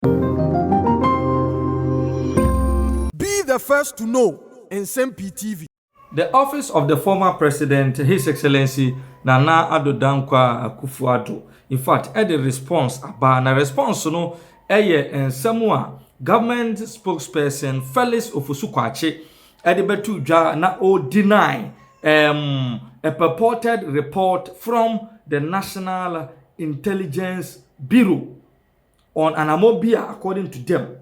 Be the first to know Nsɛm Pii TV. The office of the former president His Excellency Nana Addo Dankwa Akufo Addo in fact ɛde response aba na response no yɛ nsɛm a government spokesperson Felix Ofosu Kwakye ɛde bɛto dwa na o deny um a purported report from the National Intelligence Bureau. on anamɔ bi a according to them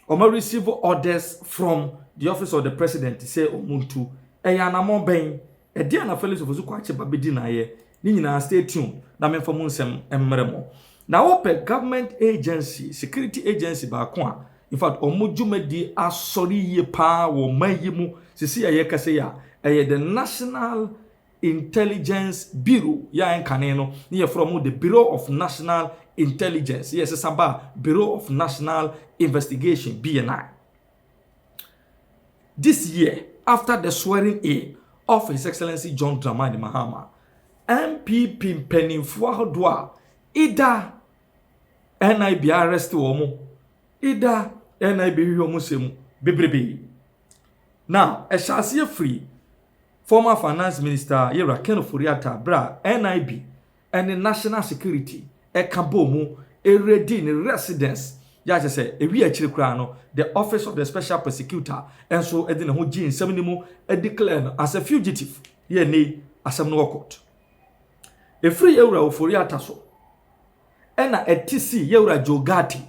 wɔn receive orders from the office of the president sɛ wɔn ntu ɛyɛ anamɔ bɛn ɛdeɛ na felix ofosu kwakye ba bɛdi n'ayɛ ne nyinaa stay tuned na memfa mu nsɛm mmerɛ mo na wopɛ government agency security agency baako a in fact wɔn dwumadi asɔre yie paa wɔ ɔman yi mu sisi a yɛkasa yi a ɛyɛ the national Intelligence Bureau, yɛ a nkane no na yɛfrɛ wɔn the Bureau of National Intelligence, yɛ ɛsesa ba a Bureau of National Investigation, BNI. This year, after the swearing in of His Excellency John Dramani Mahama, NPP mpanimfoɔ ahodoɔ a ida NIB arrest wɔn, ida NIB hwehwɛ wɔn sɛ mu bebrebe. Now, ɛhyɛ aseɛ firi Former Finance Minister yɛ Raquel Ofori-Atta berɛ a NIB ne National Security ka bɔɔ mu raidi ne residence yɛ a kyerɛ sɛ ɛwiee akyiri koraa no the Office of the Special Persecutor nso de ne ho gyee nsɛm no mu declare no as a fugitive yɛ ɛnnɛ yi asɛm no wɔ court. Ɛfiri Yɛwura Ofori-Atta so ɛna ɛte sii Yɛwura Joe Ghartey.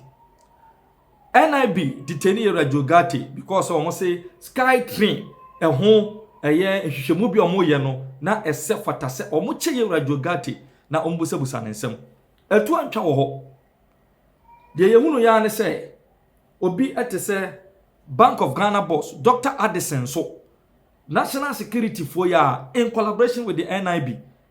NIB detani yɛ Radio Gate because sɛ wɔn se Sky Train ɛho ɛyɛ nhwehwɛmu bi a wɔn yɛ no na ɛsɛ fata sɛ wɔn kyɛ yɛ Radio Gate na wɔn busabusa ne nsɛm. Ɛtu antwa wɔ hɔ. Deɛ yɛhunu yɛ ne sɛ obi ɛte sɛ Bank of Ghana boss Dr. Addison so National Security foɔ yɛ in collaboration with the NIB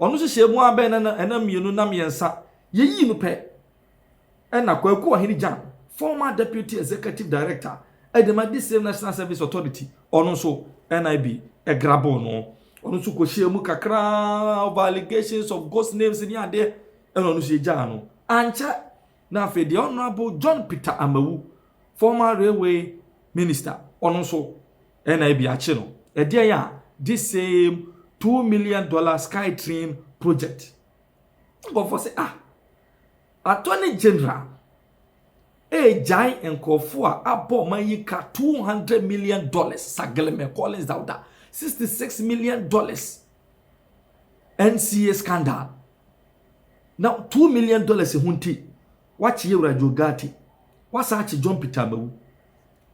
Ɔno nso hyɛɛ mu ara bɛn nna nna mmienu nna mmiɛnsa, yɛyii no pɛ na Kwaku Ɔhene Gyan, former Deputy Executive Director de ma this same National Service Authority, ɔno nso NIB graboo no, ɔno nso kɔhyɛɛ mu kakra over allegations of ghost names ne adeɛ, ɛna ɔno nso yɛgyaa no. Ankyɛ na afei deɛ Honourable John Peter Amawu, former Railway Minister, ɔno nso Ɛna ebi akye no, ɛdeɛn a this same two million dollar sky train project nkurɔfoɔ sɛ ah attorney general ɛregyae nkurɔfoɔ a abɔ ɔman yi ka two hundred million dollars sageleme collins dauda sixty six million dollars nca scandal na two million dollars ho nti wakye yɛ wura jogati wasan akye john peter amawu.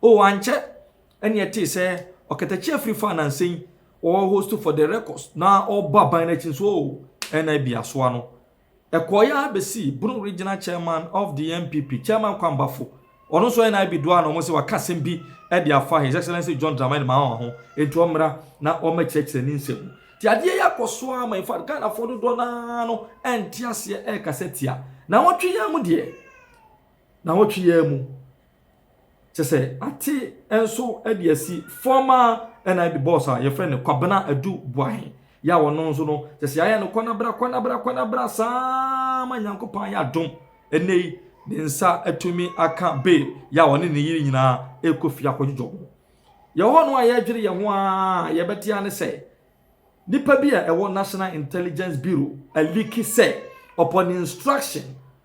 O, ankyɛ na yɛtee sɛ ɔkatakyi afiri faa nansa yi ɔwɔ host for the records na ɔbɔ aban no akyi nso o, ɛna bi asoa no. Ɛkɔɔ yɛ abɛsi Bono regional chairman of the NPP, Chairman Kwambafo, ɔno nso ɛna bi doa na wɔn sɛ waka asɛm bi de afa His Excellency John Dramani Mahama ho, enti ɔmmra na ɔmmɛkyerɛkyerɛ ne nsɛm mu. Nti adeɛ yi akɔ so ara ma in fact Ghanafoɔ dodoɔ no ara no ɛnte aseɛ ɛrekasa tia. Nawɔtwe yi ara mu deɛ, nawɔtwe yi ara mu. Kyɛ sɛ ate nso de asi former NIB boss a yɛfrɛ no Kwabena Adu Boahe yɛ a ɔno nso no kyɛ sɛ ayɛ no kɔnabra kɔnabra kɔnabra saa ma Nyankopɔn ayɛ adom ɛnɛ yi ne nsa atumi aka bail yɛ a ɔne ne yere nyinaa ɛkɔ fie akɔdwodwɔ ho. Yɛwɔ no a yɛdwere yɛn ho a yɛbɛte ane sɛ nipa bi a ɛwɔ National Intelligence Bureau aliki sɛ upon instruction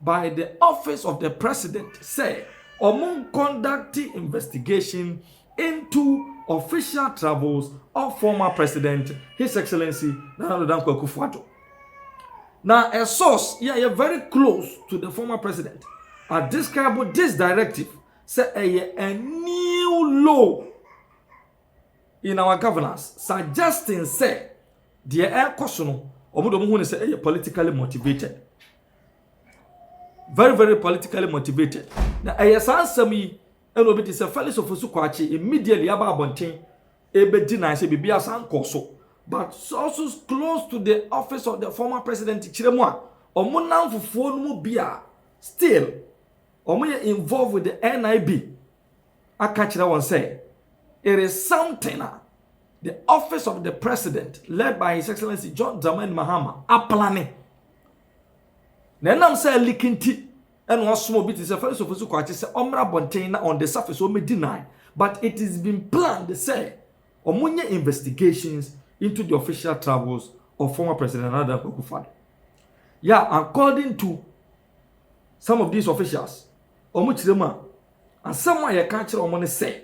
by the office of the president sɛ wɔnkɔndakte investigation into official travels of former president his excellency Nana Addo Dankwa Akufo-Addo. Na a source yɛ yɛ very close to the former president a describe this directive sɛ ɛyɛ a new law in our governance suggesting sɛ deɛ ɛrekɔ so no wɔn de wɔn ho ne sɛ ɛyɛ politically motivated. very very politically motivated na ɛyɛ saa nsɛm yi ɛna obi te sɛ felix ofosu kwakye immediately aba abɔnten ɛbɛdi nan sɛ biribi asan kɔ so but also close to the office of the former president kyerɛ mu a wɔn namfofoɔ no mu bi a still wɔn yɛ involved with the nib aka kyerɛ wɔn sɛ, It is something a the office of the president led by his excellency John Dramani Mahama aplane. Na ɛnam sɛ aliki nti ɛna ɔsoma obi te sɛ Felix Ofosu Kwakye sɛ ɔmmra abɔnten na on the surface ɔmɛ deny but it is been planned sɛ wɔnyɛ investigations into the official travels of former president Nana Akufo-Addo. Yeah, according to some of these officials wɔn kyerɛ mu a asɛm a yɛka kyerɛ wɔn ne sɛ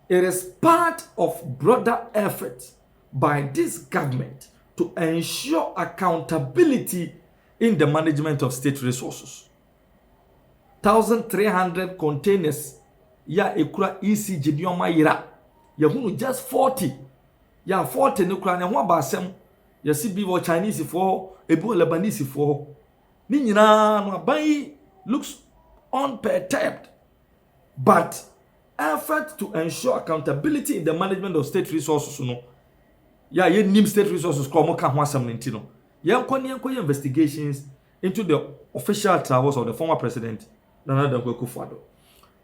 it is part of broader effort by this government to ensure accountability in the management of state resources. 1,300 containers ya ekura ECG nneɛma yera. Yɛhunu just 40. Ya 40 no kura ne ho aba asɛm Yɛsi bi wɔ Chinese foɔ hɔ, ebi wɔ Lebanese foɔ hɔ. Ne nyinaa no aban yi looks unperturbed but effort to ensure accountability in the management of state resources no yɛ a yɛnnim state resources kora wɔn ka ho asɛm no nti no yɛnkɔ ne yɛnkɔyɛ investigations into the official travels of the former president Nana Dankwa Akufo-Addo.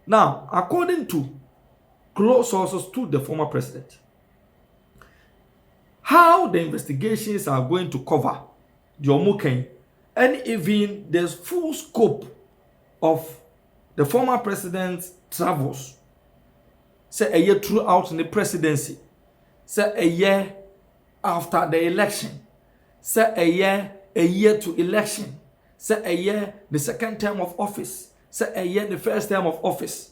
Now, according to close sources to the former president, how the investigations are going to cover deɛ wɔn ka yi and even the full scope of the former president's travels sɛ ɛyɛ throughout ne presidency sɛ ɛyɛ after the election sɛ ɛyɛ a year to election sɛ ɛyɛ the second term of office sɛ ɛyɛ the first term of office.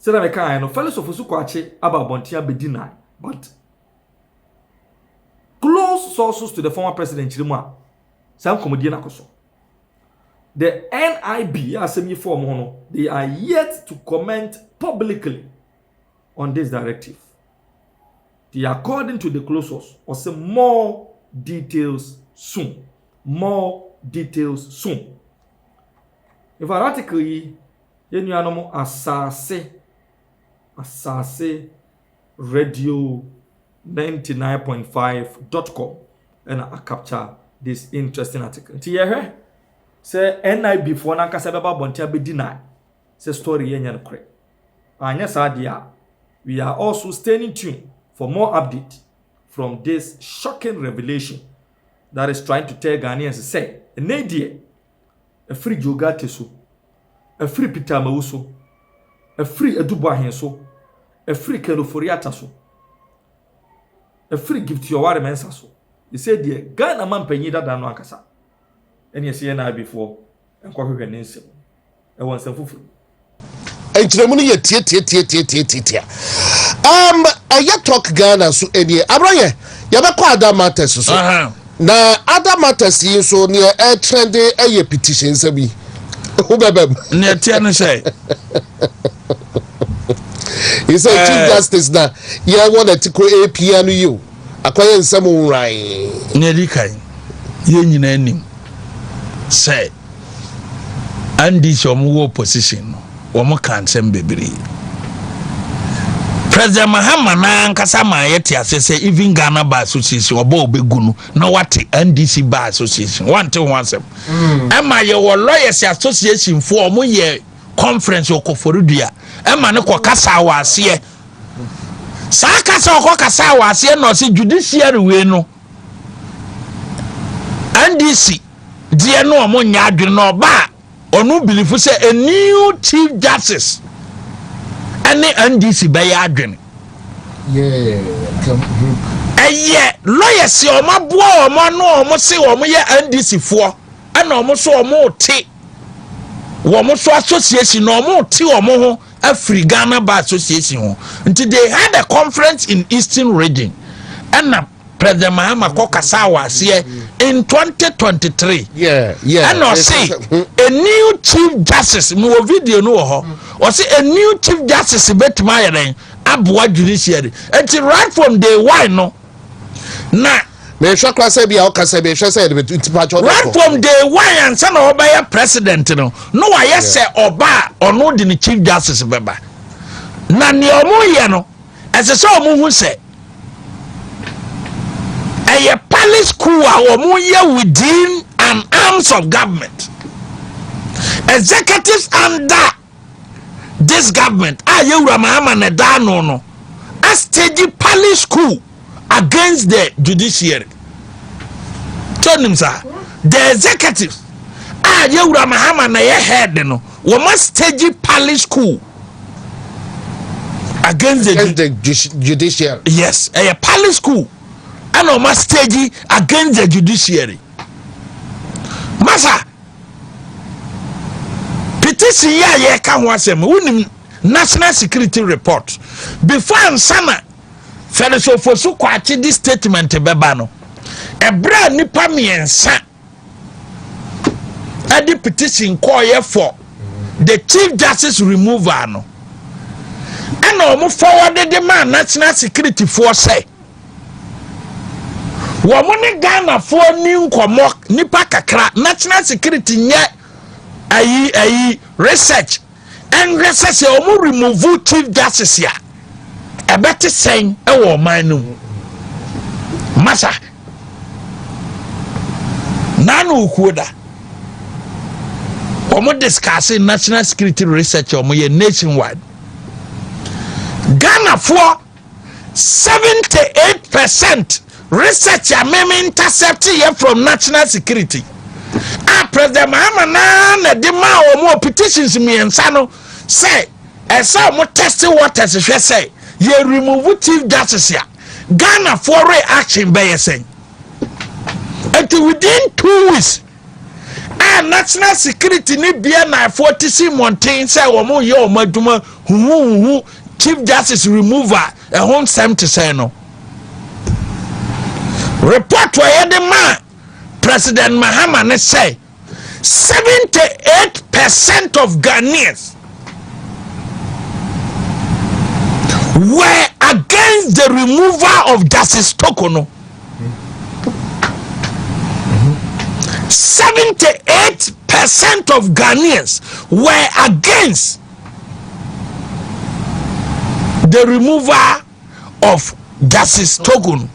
Sɛdeɛ mekaeɛ no, Fellowsofo so koakye aba abɔnten abɛdi nnae, but close sources to the former president kyerɛ mu a, saa nkɔmmɔdie no akɔ so. The NIB a asɛm yi fɔɔ mo no, they are yet to comment publicly on this directive. They are according to the close source, ɔsɛ more details soon. More details soon. Ɛfa article yi, yɛn nuanom asase, asase radio 99.5.com ɛna a capture this interesting article. Nti yɛhwɛ sɛ NIV foɔ no ankasa bɛba abɔnten abɛdi na sɛ story yɛ nyɛ no korɛ. Anyɛ saa deɛ a, we are also staying in tune for more update from this shocking revelation that is trying to tell Ghanaians sɛ, ɛnɛ deɛ, Ɛfiri Gilgate so, ɛfiri Pitameu so, ɛfiri Edubɔahe so, ɛfiri Kenoforiata so, ɛfiri Gibteɔware Mensah so. Sesei deɛ, Ghana mampanyin dada no ankasa na ɛsɛ yɛn Naabifoɔ nkɔhwehwɛ ne nsam. Ɛwɔ nsɛm foforo mu. nkyerɛmu no yɛ tiatiatiatiatiatia um, ɛyɛ talk ghana so ɛnie abra yɛ yɛbɛkɔ ada matters so Aha. na ada matters yi nso neɛ ɛkyerɛ de ɛyɛ petition sɛ bi ho bɛbɛm nea ɛteɛ no sɛ ɛsɛ Eh. chief justice na yɛwɔ no atiko apia no yi o akɔyɛ nsɛm nwran nea ɛdi kan yɛn nyinaa nim sɛ NDC a wɔwɔ opposition no, wɔkaa nsɛm bebree. President Mahama no ankasa ma yɛte ase sɛ even Ghana Bar Association ɔba a ɔbɛgu no na wate NDC Bar Association wante ho asɛm. Mm. Ɛma yɛwɔ lawyers association foɔ ɔmo yɛ conference ɔkɔfɔredua ɛma no kɔ kasa wɔ aseɛ saa kasa ɔkɔ kasa wɔ aseɛ na ɔsɛ judiciary wei no NDC deɛ no ɔmo nyɛ adwene na ɔba a ɔno bilifo sɛ a new chief justice ɛne ndc bɛyɛ adwene ɛyɛ lɔyɛ si ɔmo aboa ɔmo ano ɔmo se ɔmo yɛ ndc foɔ ɛna ɔmo so ɔmo te wɔn so association na wɔn te wɔn ho afiri ghana bar association ho nti they had a conference in eastern region ɛna. President Mahama kɔ kasaa wɔ aseɛ in 2023 ɛna ɔse a new chief justice mewɔ video no wɔ hɔ ɔse a new chief justice bɛtumi ayɛ dɛn aboa judiciary nti right from day one no na mehwɛ kora sɛ bia ɔka sɛ mehwɛ sɛ yɛdebɛtipatwɔ right from day one ansa na ɔbɛyɛ president no na wayɛ sɛ ɔba a ɔno de ne chief justice bɛba na nea ɔmo yɛ no ɛsɛ sɛ wɔn ho sɛ ɛyɛ palace coup a wɔn yɛ within an arms of government executives under this government a yɛwura mahama na ɛda ano no astage palace coup against the judiciary tó nim saa the executives a yɛwura mahama na ɛyɛ head no wɔn astage palace coup. against the, against the judiciary. yes ɛyɛ palace school ɛna ɔma stage against the judiciary masa petition yi a yɛka ho asɛm wonim national security report before ansana fɛrɛsofo so kwakye di statement bɛba no ɛberɛ a nnipa mmiɛnsa ɛde petition kɔɔyɛ for the chief justice removal no ɛna wɔn fɔwɔde de maa national security foɔ sɛ wɔn ne ghanafoɔ ni nkɔmɔ nipa kakra national security nyɛ ayi ayi research. ɛnhwɛ sɛ sɛ wɔn remove chief justice a ɛbɛte sɛn ɛwɔ ɔman no mu masa nana okuo da wɔn discuss national security research wɔn yɛ nationwide ghanafoɔ. Seventy eight percent research a me me intercept yɛ from national security a president mahama naa na de maa wɔn petitions mmiɛnsa no sɛ ɛsɛ wɔn test waters hwɛ sɛ yɛ remove chief justice a ghana for reaction bɛyɛ sɛn nti within two weeks a National Security ne BNIfoɔ te si mmɔnten sɛ wɔyɛ wɔn adwuma huhuhuhu Chief Justice removal ɛho nsɛm te sɛn no report a yɛde maa President Mahama ne sɛ 78 percent of Ghanaians were against the removal of Justice Toko no Seventy eight percent of Ghanaians were against the removal of Justice Togun.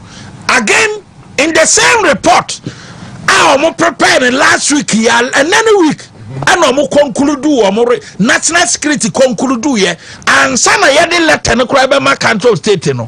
Again, in the same report, I am preparing last week and any week. ɛna ɔmo kɔnkuludu ɔmo re national security kɔnkuludu yɛ ansa na yɛde lɛtɛ no koraa bɛma council state no.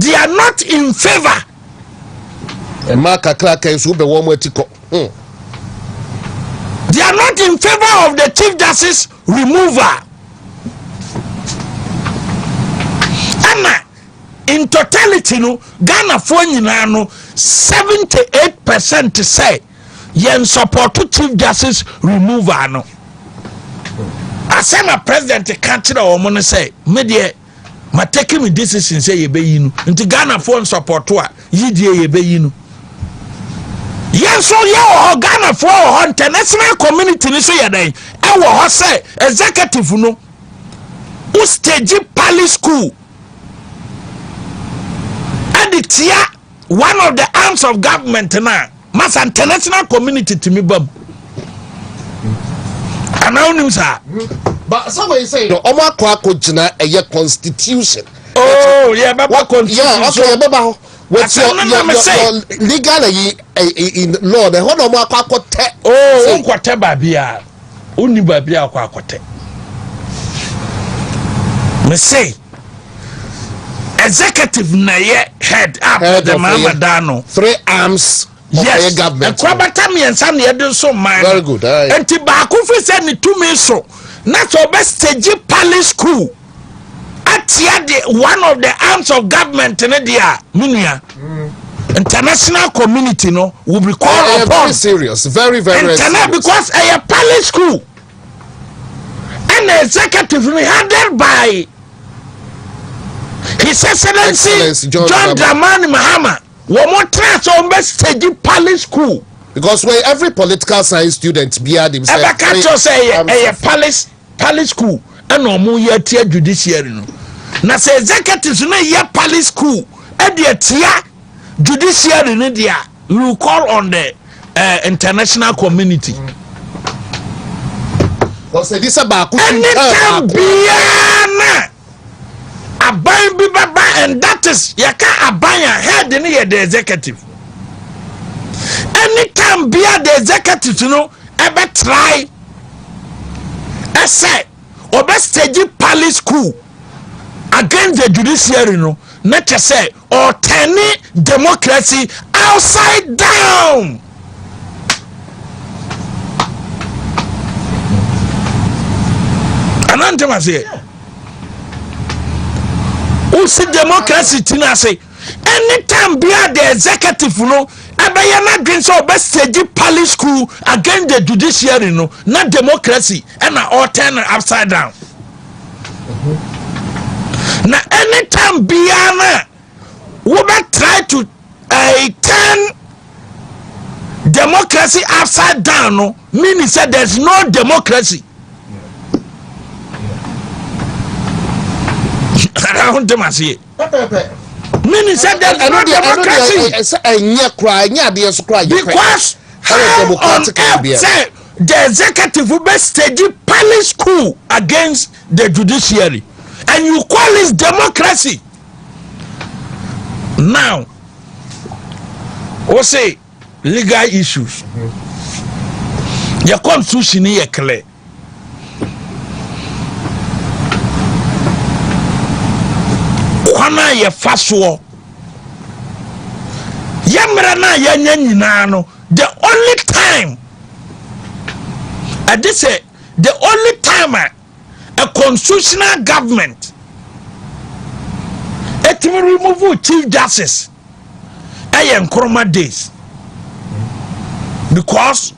they are not in favour. mmaa kakraka nso wobɛ wɔn ati kɔ. Hmm. they are not in favour of the chief justice removal. ɛna in totality no ghanafoɔ nyinaa no seventy eight percent sɛ. yɛn sɔpɔto chief justice removal no asɛm a president ka kyerɛ wɔn no sɛ me deɛ ma take me decision sɛ yɛbɛyi no nti ghanafoɔ nsɔpɔto a yidie yɛbɛyi no yɛn nso yɛ wɔ hɔ ghanafoɔ wɔ hɔ international community no so yɛ dɛn ɛwɔ hɔ sɛ executive no wo stage pali school ɛde tia one of the arms of government no a masa international community tumi bam anaa wonim saa ɔmo akɔ akɔgyina ɛyɛ constitution oh, yɛbɛba constitution yɛbɛba hɔ what's your, your, your, your legal eh, eh, in law na ɛhɔ na ɔmo akɔ akɔtɛ. oo oh, nkɔtɛ baabi a. wonni baabi akɔ akɔtɛ mese executive na ɛyɛ head up the mama da no three arms yes ɛkura bata mmiɛnsa na yɛde nso mmaa no nti baako fi sɛ ne tumi so na sɛ ɔbɛ stage palace school. atia de one of the arms of government ne deɛ a me nua international community no will be called uh, upon very serious very very international serious. because ɛyɛ uh, palace school and the executive me headed by his excellency, excellency john, john dramani mahama wɔn mo tẹ̀lé sọ wɔn bɛ stage palace school. because where every political science student biara dem sɛ. ɛbɛ ká tó sɛ ɛyɛ ɛyɛ palace. pali school ɛna ɔmo yɛ atia judiciary no na sɛ executives no yɛ pali school ɛde atia judiciary no deɛ we will call on the uh, international community. ɔsɛ di sɛ baako. ɛne tɛ biara na Aban bi bɛba and that is yɛka aban a head no yɛ the executive. Anytime bia the executives no ɛbɛtrae ɛsɛ ɔbɛ stage palace school against the judiciary no na kyɛ sɛ or turning democracy outside down. Anan tẹ́wọ̀n ase yẹ. O si democracy ti na ase. Anytime bi a the executive no ɛbɛyɛ n'adwene sɛ ɔbɛ stage pali school against the judiciary no na democracy ɛna ɔtɛn no upside down. na anytime biara no a wobɛ try to uh, turn democracy upside down no meaning sɛ there's no democracy ahontem aseɛ meaning sɛ there's no democracy ɛnyɛ koraa ɛnyɛ adeɛ so koraa because how on earth sɛ The executive bɛ stage palace coup against the judiciary and you call it democracy now o se legal issues yɛ constitution yɛ clear kwan a yɛfa soɔ yɛ mmerɛ no a yɛanya nyinaa no the only time ɛde sɛ the only time a a constitutional government ɛtumi remove chief justice ɛyɛ nkoroma days because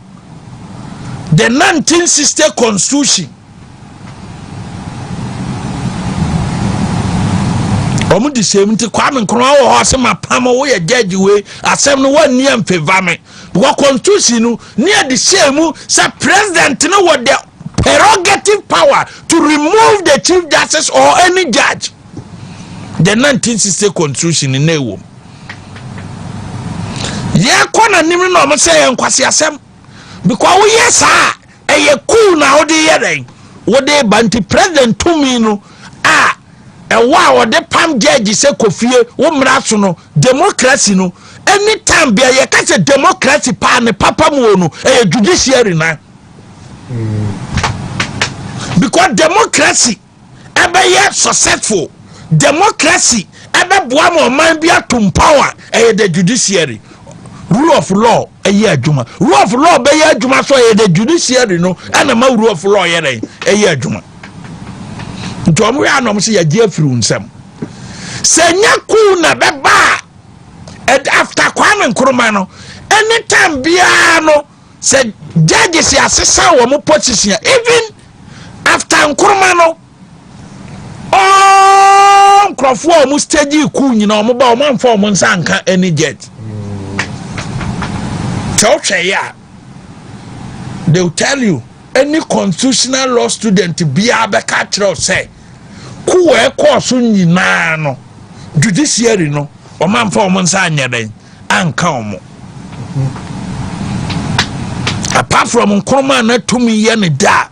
the 1960 constitution wɔn de sɛm nti kwame nkrumah wɔ hɔ ɔsɛ ma pam woyɛ judge wei asɛm no wɔn nni ɛnfɛva me. wɔ constitution no ne yɛde hyɛɛ mu sɛ president no wɔ the prerogative power to remove the chief justice or any judge the 1960 constitution no na ɛwom yɛkɔ n'anim no na ɔmo sɛ yɛ nkwasi asɛm because woyɛ saa ɛyɛ cool na wode yɛ dɛn wode ba nti president tumi no a ɛwɔ a wɔde pam judge sɛ kofie wo mmara so no Democracy no any time bia yɛ ka sɛ democracy paa ne papa mu o no ɛyɛ judiciary nan because democracy ɛbɛyɛ successful democracy ɛbɛboa ma ɔman bi atom power ɛyɛ the judiciary rule of law ɛyɛ adwuma rule of law bɛyɛ adwuma so ɛyɛ the judiciary no ɛna ma rule of law yɛ dɛ ɛyɛ adwuma nti wɔn yɛ anam sɛ yɛgye afiri nsɛm. sɛ nyɛ kuu na bɛba a after kwame nkrumah no anytime biara no sɛ judges asesa wɔn position even after nkrumah no ɔɔ nkurɔfoɔ a wɔn stage kuu nyina wɔn ba wɔn anfa wɔn nsa nka any judge sɛ wohwɛ yɛ a they will tell you any constitutional law student biara bɛka kyerɛ sɛ Coup a ɛkɔɔ so nyinaa no, judiciary no, wɔamfa wɔn nsa anyɛ dɛn anka wɔn. Apart from Nkrumah na tumi yɛ ne da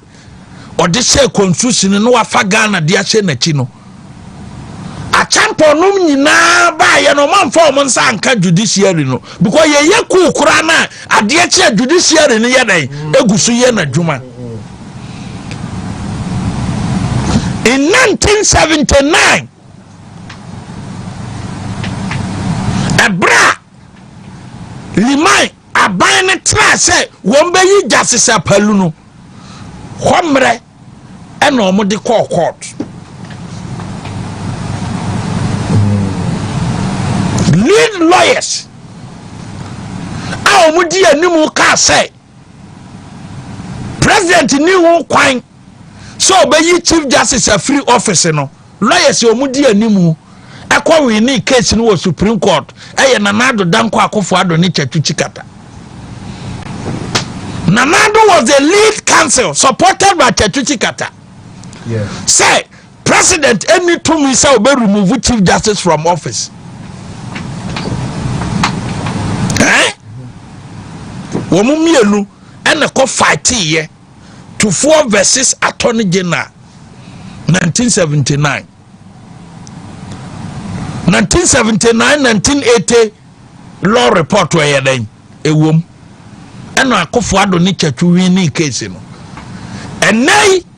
a ɔde hyɛ constitution no wafa Ghana de ahyɛ n'akyi no. Akyɛmpɔnom nyinaa baayɛ no wɔamfa wɔn nsa anka judiciary no because yɛyɛ coup koraa no a adeɛ kye a judiciary no yɛ dɛn egu so yɛ n'adwuma. In 1979, ɛberɛ a Liman aban no traa sɛ wɔn bɛyi Justice Apalu no, hɔ mmerɛ ɛna wɔn de kɔɔ court. Lead lawyers a wɔn di anim kaa sɛ president ni ho kwan sɛ ɔbɛyi chief justice afiri office no lawyers a wɔn di animu ɛkɔ wini case no wɔ supreme court ɛyɛ nana ado danko akofo ado ne kyatu chikata nana ado was the lead counsel supported by kyatu chikata sɛ president ɛni tumi sɛ ɔbɛ remove chief justice from office ɛn wɔn mmienu ɛna kɔ fight yɛ tufoɔ versus attorney general 1979 1979 1980 law report ɛyɛ dɛn ɛwom ɛna akofo ado ne kyɛtwi winning case no ɛnɛ yi.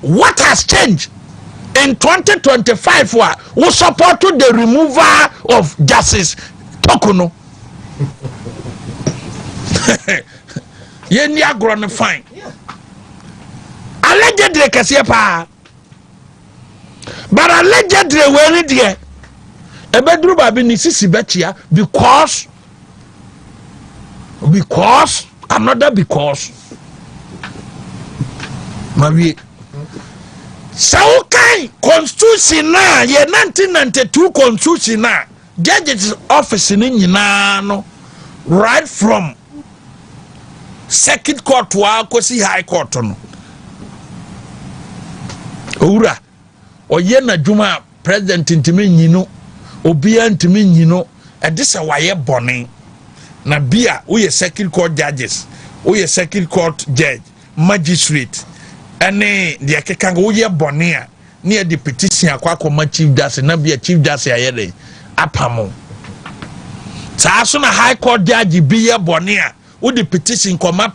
What has changed in 2025 a wo support to the removal of Justice Toku no? Yɛn ni agorɔ no fine. Allegedly kɛseɛ paa. But allegedly wei ni deɛ ɛbɛduru baabi ne sisi bɛkyia because. because another because mawie sɛ wokan constitution no a yɛ 1992 constitution no a judges office no nyinaa no right from circuit court a kɔsi high court no owura Ɔyɛ n'adwuma a president ntumi nyi no, obiara ntumi nyi no, ɛde sɛ wayɛ bɔne. Na bi a woyɛ circuit court judges, woyɛ circuit court judge, magistrate, ɛne deɛ ɛkeka woyɛ bɔne a ne yɛde petition akɔ akɔma chief justice na bia chief justice ayɛ dɛn apamo saa so na high court judge bi yɛ bɔne a wode petition kɔma